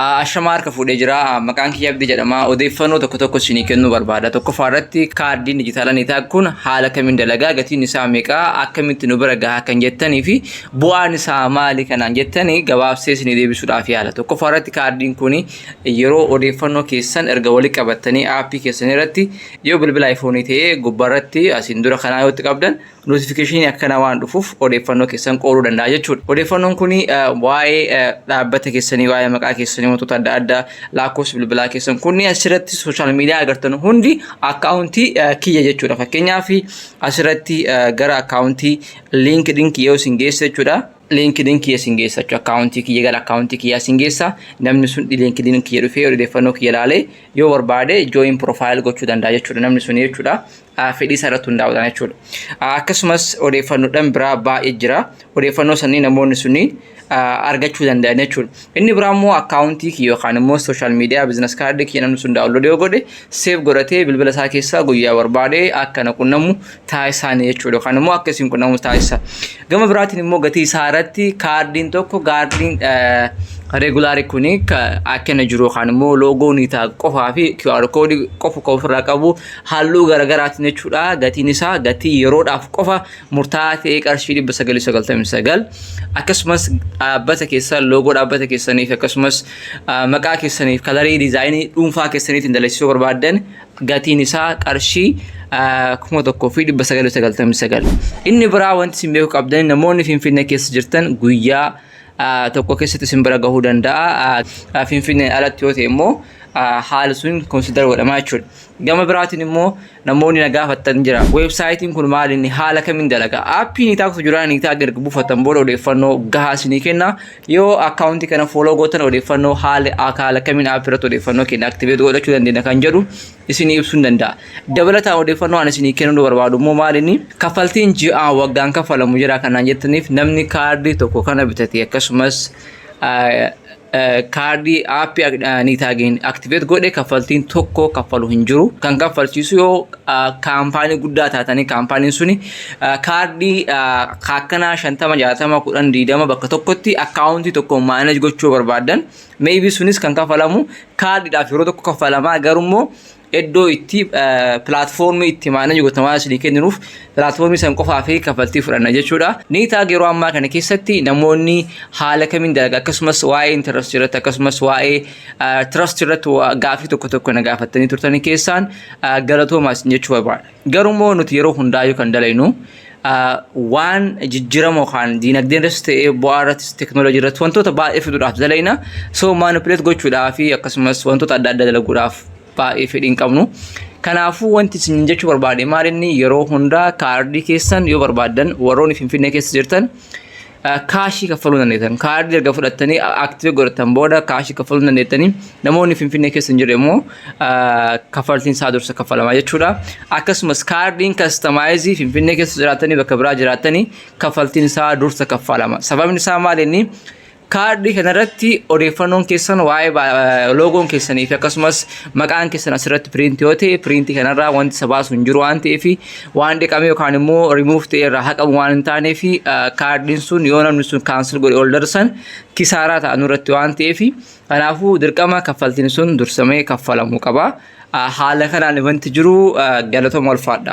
Ashamaa harka fuudhee jira. Maqaan kiyya Abdii jedhama. Odeeffannoo tokko tokko isinii kennuu barbaada. Tokkoffaa irratti kaardiin dijitaala Nitaag kun haala kamiin dalagaa gatiin isaa meeqa akkamitti nu bira gahaa kan jettanii fi bu'aan isaa maali kanaan jettanii gabaabsee isinii deebisuudhaaf yaala. Tokkoffaa irratti kaardiin kun yeroo odeeffannoo keessan erga wali qabattanii aappii keessan irratti yoo bilbila iPhone ta'ee gubbaa irratti asiin dura kanaa yoo itti qabdan notifikashinii akkana waan dhufuuf odeeffannoo keessan qooduu danda'a jechuudha. Odeeffannoon kun waa'ee dhaabbata keessanii, waa'ee maqaa keessanii, wantoota adda addaa, lakkoofsa bilbilaa keessan kunni asirratti sooshaal miidiyaa agartan hundi akkaawuntii kiyya jechuudha. Fakkeenyaaf asirratti gara akkaawuntii liinkidin kiyya yoo isin geesse jechuudha. liinkidin kiyya isin geessa jechuudha. Akkaawuntii kiyya gara akkaawuntii kiyyaa isin geessa. Namni sun liinkidin kiyya dhufee odeeffannoo kiyya ilaalee yoo barbaade jooyin piroofaayil gochuu danda'a jechuudha namni sun jechuudha. fedhii isaa irratti hundaa'uudhaan jechuudha. Akkasumas odeeffannoodhaan biraa baay'ee jira. Odeeffannoo sanii namoonni suni argachuu danda'an jechuudha. Inni biraa immoo akkaawuntii kiyya yookaan immoo sooshaal miidiyaa bizinas kaardii kiyya namni sun daawunlood yoo godhe seef godhatee bilbila isaa keessaa guyyaa barbaade akka na qunnamu taasisaani jechuudha. Yookaan immoo akka isin qunnamu taasisa. Gama biraatiin immoo gatii isaa irratti kaardiin tokko kaardiin regulaari kuni akka inni jiru yookaan immoo loogoo ni ta'a qofaa fi QR koodii qofa qofa ofirraa qabu halluu garagaraatiin jechuudha gatiin isaa gatii yeroodhaaf qofa murtaa'aa ta'ee qarshii 999 akkasumas dhaabbata keessan loogoo dhaabbata keessaniif akkasumas maqaa keessaniif kalarii diizaayinii dhuunfaa keessaniitiin dalagsisuu barbaaddan gatiin isaa qarshii 1999 inni biraa wanti isin beekuu qabdan namoonni finfinnee keessa jirtan guyyaa tokko keessatti isin bira gahuu danda'a. Finfinneen alatti yoo ta'e immoo haala sun konsidar godhamaa jechuudha. Gama biraatiin immoo namoonni na gaafattan jira. Weebsaayitiin kun maal inni haala kamiin dalaga? Aappii ni taaksu jira ni taaksu erga buufattan booda odeeffannoo gahaa isinii kenna. Yoo akkaawuntii kana fooloo gootan odeeffannoo haala haala kamiin aappii irratti odeeffannoo keenya aktiveet godhachuu dandeenya kan jedhu isinii ibsuu danda'a. Dabalataan odeeffannoo ani isinii kennuu barbaadu immoo maal inni kaffaltiin ji'aan waggaan kaffalamu jira kanaan jettaniif namni kaardii tokko kana bitate akkasumas kaardii aappii niitaagiin aktiveet godhe kaffaltiin tokko kaffalu hin jiru kan kaffalchiisu yoo kaampaanii guddaa taatanii kaampaaniin suni kaardii akkanaa shantama jaatama kudhan diidama bakka tokkotti akkaawuntii tokko maanej gochuu barbaadan meebii sunis kan kaffalamu kaardiidhaaf yeroo tokko kaffalamaa garuu immoo iddoo itti pilaatfoormii itti maanaji gotan waan isinii kenninuuf pilaatfoormii san qofaa fi kaffaltii fudhanna jechuudha. Ni taag yeroo ammaa kana keessatti namoonni haala kamiin dalaga akkasumas waa'ee intarastii irratti akkasumas waa'ee tirastii irratti gaafii tokko tokko na gaafattanii turtanii keessaan galatoomaa isin jechuu barbaada. Garuu immoo nuti yeroo hundaayuu kan dalaynu waan jijjirama yookaan diinagdeen irrattis ta'ee bu'aa irrattis teknooloojii irratti wantoota baay'ee fiduudhaaf dalayna. So maanipuleet gochuudhaa fi akkasumas wantoota adda addaa dalaguudhaaf baay'ee fedhii hin qabnu. Kanaafuu wanti isin jechuu barbaade maal inni yeroo hundaa kaardii keessan yoo barbaaddan warroonni Finfinnee keessa jirtan kaashii kaffaluu dandeettan kaardii erga fudhattanii aktiivii godhattan booda kaashii kaffaluu dandeettanii namoonni finfinnee keessa hin jirre immoo kaffaltiin isaa dursa kaffalama jechuudha akkasumas kaardiin kastamaayizii finfinnee keessa jiraattanii bakka biraa jiraattanii kaffaltiin isaa dursa kaffalama sababni isaa maal inni kaardii kanarratti odeeffannoon keessan waa'ee loogoon keessanii fi akkasumas maqaan keessan asirratti piriintii yoo ta'e piriintii kanarraa wanti isa baasu hin jiru waan ta'eef waan dhiqame yookaan immoo remove ta'e irraa haqamu waan hin taanee fi kaardiin sun yoo namni sun kaansel godhe ol darsan kisaaraa ta'a nurratti waan ta'eef kanaafuu dirqama kaffaltiin sun dursamee kaffalamuu qaba. Haala kanaan wanti jiru galatoma ulfaadha.